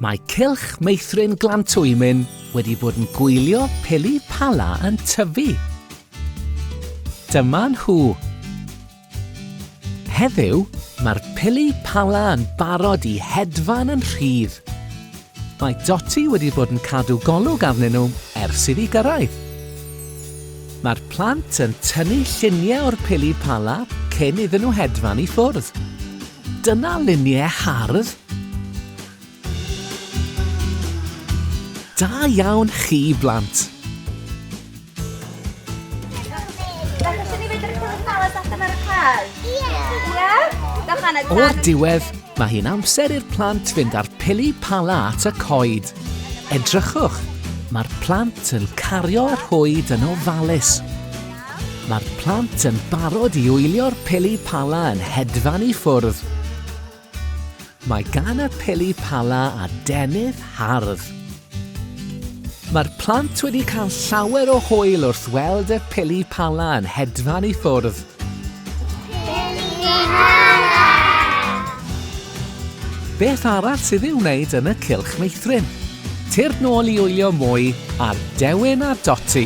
Mae cylch meithrin glantwymyn wedi bod yn gwylio peli pala yn tyfu. Dyma nhw. Heddiw, mae'r peli pala yn barod i hedfan yn rhydd. Mae Dotty wedi bod yn cadw golwg arnyn nhw ers iddi gyrraedd. Mae'r plant yn tynnu lluniau o'r pili pala cyn iddyn nhw hedfan i ffwrdd. Dyna luniau hardd! Da iawn chi, blant! O'r diwedd, mae hi'n amser i'r plant fynd â'r pili pala at y coed. Edrychwch, mae'r plant yn cario y rhwyd yn ofalus. Mae'r plant yn barod i wylio'r pili pala yn hedfan i ffwrdd. Mae gan y pili pala a denydd hardd. Mae'r plant wedi cael llawer o hwyl wrth weld y pili pala yn hedfan i ffwrdd. Beth arall sydd i'w wneud yn y cylch meithrin? Tir nôl i wylio mwy ar Dewin a Doti.